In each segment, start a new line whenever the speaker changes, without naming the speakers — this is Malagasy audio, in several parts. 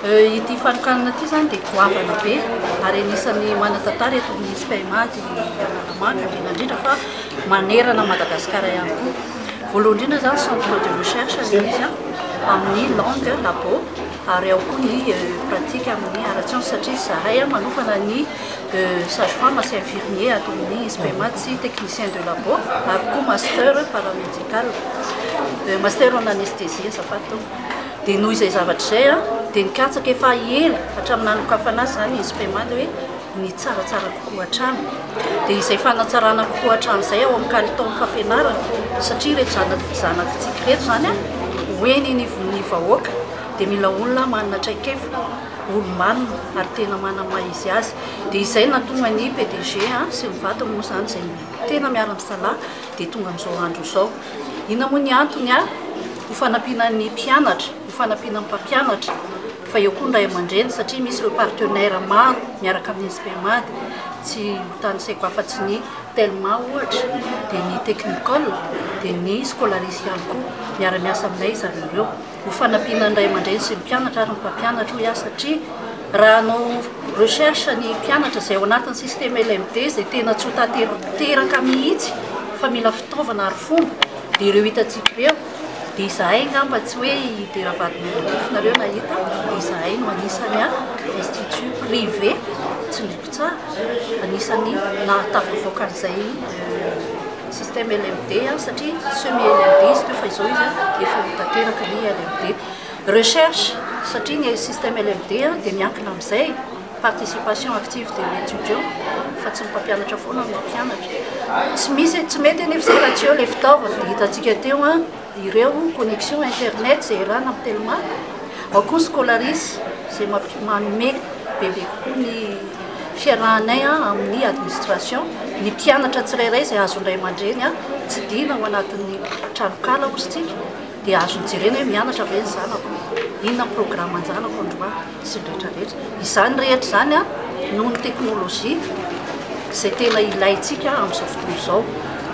Ity fanokanana ity izany dia goavana be ary anisan'ny manan-tantara eto amin'ny SPMA ity Analamanga indrindra indrindra fa manerana an'i Madagasikara ihany koa. Voalohany indrindra izany centre de recherche ilay izy an, amin'ny langue labo ary ao koa ny eh, pratique amin'ny ara-tsiansa satria izahay an, manokana ny eh, sage-femme sy infirmier ato amin'ny SPMA sy technicien de labo ary koa master paramédical. Cal. Dia master en anesthésie azafady tompoko. Dia noho izay zavatra izay an, dia nikatsaka efa ela hatramin'ny nanokafana azy izany ny Inspema dia hoe ny tsaratsara kokoa hatrany. Dia izay fanatsarana kokoa hatramin'izay ao amin'ny kalitaon'ny fampianarana satria ireto zanaky zanatsika ireto izany an, ho eny anivon'ny vahoaka dia mila olona manana traikefa, olo-manina ary tena manana ny maha izy azy. Dia izay no nahatonga ny PDG sy ny vadiny moa izany izay tena miara-misalahy. dia tonga amin'izao andro izao. Inona moa ny antony? Ho fanampiana ny mpianatra, ho fanampiana ny mpampianatra, fa eo koa ny ray aman-dreny satria misy ireo partenaires maro miaraka amin'ny SPMAD, tsy ho tanisaiko afa-tsy ny Telma ohatra, dia ny Technicole, dia ny Scolaris ihany koa. Miara-miasa aminay ry zareo ireo. ho fanampiana ny ray aman-dreny sy ny mpianatra ary ny mpampianatra hoy aho satria raha hanao recherche ny mpianatra izay ao anatin'ny système LMD izay tena tsy ho tanteraka mihitsy fa mila fitaovana ary fomba dia ireo hitantsika ireo dia izahay angamba tsy hoe hidera vadin'olon-drifonareo nahita dia izahay no anisany a institut privé tsy Tsara, anisan'ny nahatafavoaka an'izay système LMD satria semi LMD izy teo fa izao izy efa ho tanteraka ny LMD. Recherche, satria ny système LMD dia miankina amin'izay participation active de l'étudiant fa tsy ny mpampianatra foana no mampianatra. Tsy misy, tsy mety anefa izay raha tsy eo ilay fitaovana dia hitantsika teo ireo connexion internet izay erana amin'ny telma, ao koa ny scolaris izay manome bebe kokoa ny fiarahanay amin'ny administration, ny mpianatra tsirairay izay azon'ny ray aman-dreny tsidihina ao anatin'ny tranonkala hozy tsika dia azony jerena hoe mianatra ve ny zanako, inona ny programme an-janako androany. sy ny rehetra rehetra. Izany rehetra izany noho ny teknolojia izay tena ilaintsika amin'izao fotoana izao.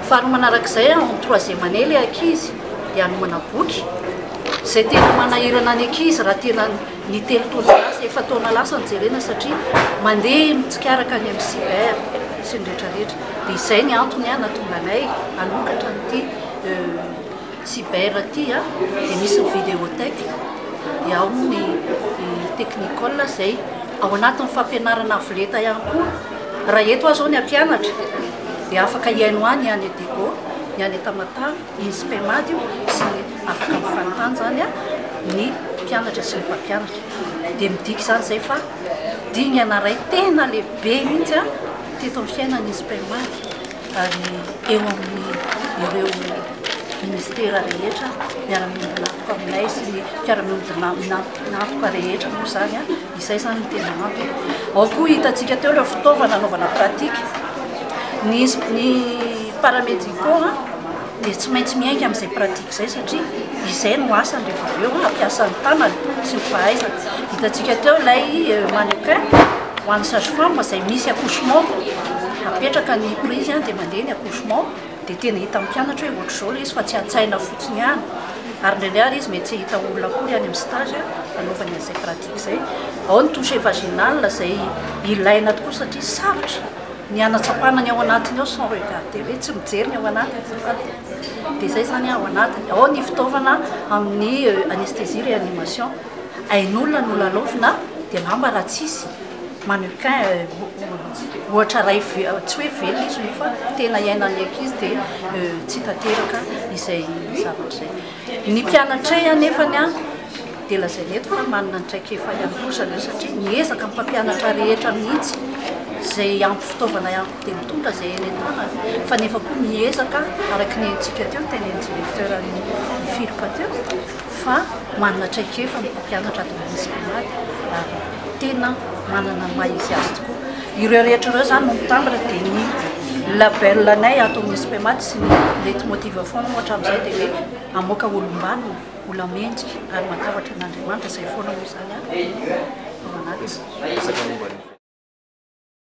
Faharoa manarak'izay, en troisième année ilay ankizy dia hanomana boky, izay tena manahirana ny ankizy raha tena ny telo taona lasa, efa-taona lasa no jerena satria mandeha mitsikaraka any amin'ny cyber sy ny rehetra rehetra. Dia izay ny antony nahatonga anay hanokatra an'ity. Cyber aty a dia misy ny videotech dia ao ny technicole izay ao anatin'ny fampianarana avo lenta ihany koa raha eto aho izao ny hampianatra dia afaka hihaino ahy ny any Edego ny any Tamatave iny Spemad io sy ny afaka mifanontany izany a ny mpianatra sy ny mpampianatra dia midika izany izay fa dingana iray tena lehibe mihitsy a teto amin'ny fiainan'ny Spemad ary eo amin'ireo minisitera rehetra, miara-miombon'antoka aminay sy ny mpiara-miombon'antoka rehetra moa izany, izay izany no tena antony. Ao koa hitantsika teo ireo fitaovana anaovana pratique, ny ny paramédicaux. dia tsy maintsy miainga amin'izay pratique izay satria izay no asany rehefa avy eo hampiasa ny tanany sy ny fahaizany. Hitantsika teo ilay euh, mannequin ho an'ny sage-femme izay misy accouchement apetraka ny prise an dia mandeha ny accouchement dia tena hita mpianatra hoe ohatr'izao ilay izy fa tsy an-tsaina fotsiny ihany ary indraindray ary izy mety tsy hita olona koa ihany amin'ny stage anaovany an'izay pratique izay ao ny touche vaginal izay ilaina tokoa satria sarotra ny hanatsapana ny ao anatiny ao son regarder hoe tsy mijery ny ao anatiny azafady e, dia izay izany ao anatiny ao ny fitaovana amin'ny anesthésie réanimation ain'olona no lalaovina dia angamba raha tsisy mannequin ohatra iray tsy hoe velona izy io fa tena iainan'ny ankizy dia tsy tanteraka izay zavatra izay Ny mpianatray anefa ny ahy dia lazaina eto fa manana ny traikefa ihany koa ry zareo satria miezaka ny mpampianatra rehetra mihitsy izay ampy fitaovana ihany koa dia mitondra izay eny an-tanany fa nefa koa miezaka araka ny henontsika teo ny tenin'ny directeur nifiloka teo fa manana traikefa ny mpampianatra ato amin'ny Seminary ary tena manana ny maha izy azy tokoa. Ireo rehetra ireo izany no mitambatra dia ny label anay ato amin'ny SPMAT sy ny Leitmotiv foana moa hatramin'izay dia hoe hamoaka olom-banona, olamendrika ary matahotra an'Andriamanitra, izay foana moa izany ao anatiny.